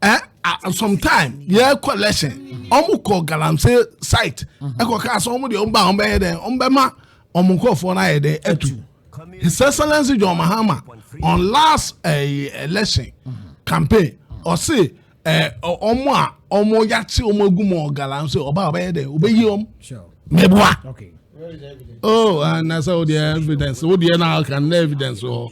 eh, uh, sometime yeah collection ɔmo kɔ galamsey site ɛkɔ kaa sɛ ɔmo deɛ ɔmo ba ɔmo bɛyɛ dɛ ɔmo bɛ ma ɔmo nkɔfoɔ no ayɛ dɛ ɛtu his excellence john mahama on last uh, election campaign ɔsi ɔmo a ɔmo yate ɔmo egu mu ɔgalamsey ɔba ɔbɛyɛ dɛ ɔbɛyi ɔmo mɛboa oh anasa o deɛ evidence o deɛ na ɔka na evidence wɔ. Oh.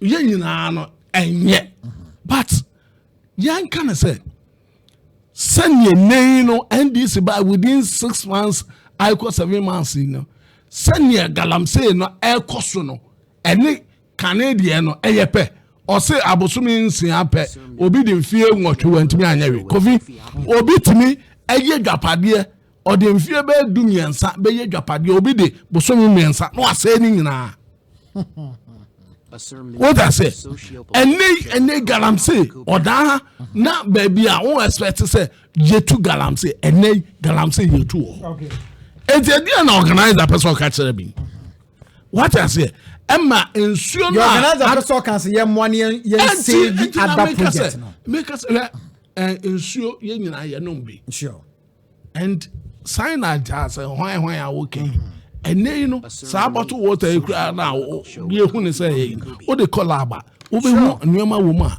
yɛn nyinaa no ɛnyɛ but yɛnka no sɛ sɛdeɛ nnɛyi no ndc by within six months aikɔ seven months yi no sɛdeɛ galamsey no ɛkɔ so no ɛne kane deɛ no ɛyɛ pɛ ɔse abosome nsia pɛ obi de mfie nwɔtwe wantumi anyɛ we kofi obi tumi ɛyɛ dwapadeɛ Ɔde mfeɛ bɛyɛ du mmiɛnsa bɛyɛ dwapadeɛ obi de bosome mmiɛnsa na wasɛe ne nyinaa. wota sɛ ɛnɛ ɛnɛ galamsey ɔdaa ha na baabi a wɔn expect sɛ yɛtu galamsey ɛnɛ galamsey yɛtu wɔ hɔ eti ɛdeɛ na organizer pɛ sɛ ɔka kyerɛ bi wata sɛ ɛma nsuo no a organizer pɛ sɛ ɔka sɛ yɛ mmoa ne yɛn save ada project no meka sɛ ɛ nsuo yɛ nyinaa yɛ nom bi and sign na nti asɛ hwan hwan a woka yi ɛnɛ yi no saa bottle water yi koraa na yɛhu ne sɛ ɛyɛ yi wode kɔ lab a wobɛhu nneɛma wɔ mu a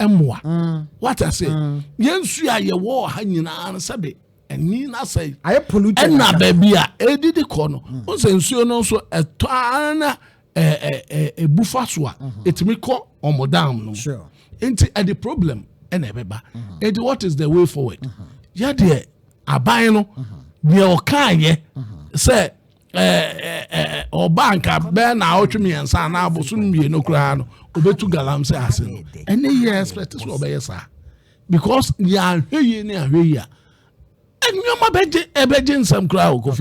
ɛmmoa mm. wata sɛ mm. yɛnsuo a yɛwɔ ha nyinaa no sɛbe ɛni na sɛ ɛna baabi a ɛdidi kɔ no mm. wo sɛ nsuo no nso ɛtɔ ara na ɛbu fa so a ɛtumi mm-hmm. kɔ ɔmo down no nti ɛde problem ɛna ɛbɛba mm-hmm. ɛde what is the way forward mm-hmm. yɛdeɛ aban no deɛ ɔkaayɛ sɛ ɔba nka bɛɛ na ɔtwe mmiɛnsa anaa abosom mmienu koraa no ɔbɛtu galamsey ase no ɛne yɛ expect sɛ ɔbɛyɛ saa because yɛahwɛ yie ne ahwɛ yie a nneɛma bɛgye ɛbɛgye nsɛm koraa wɔ kofi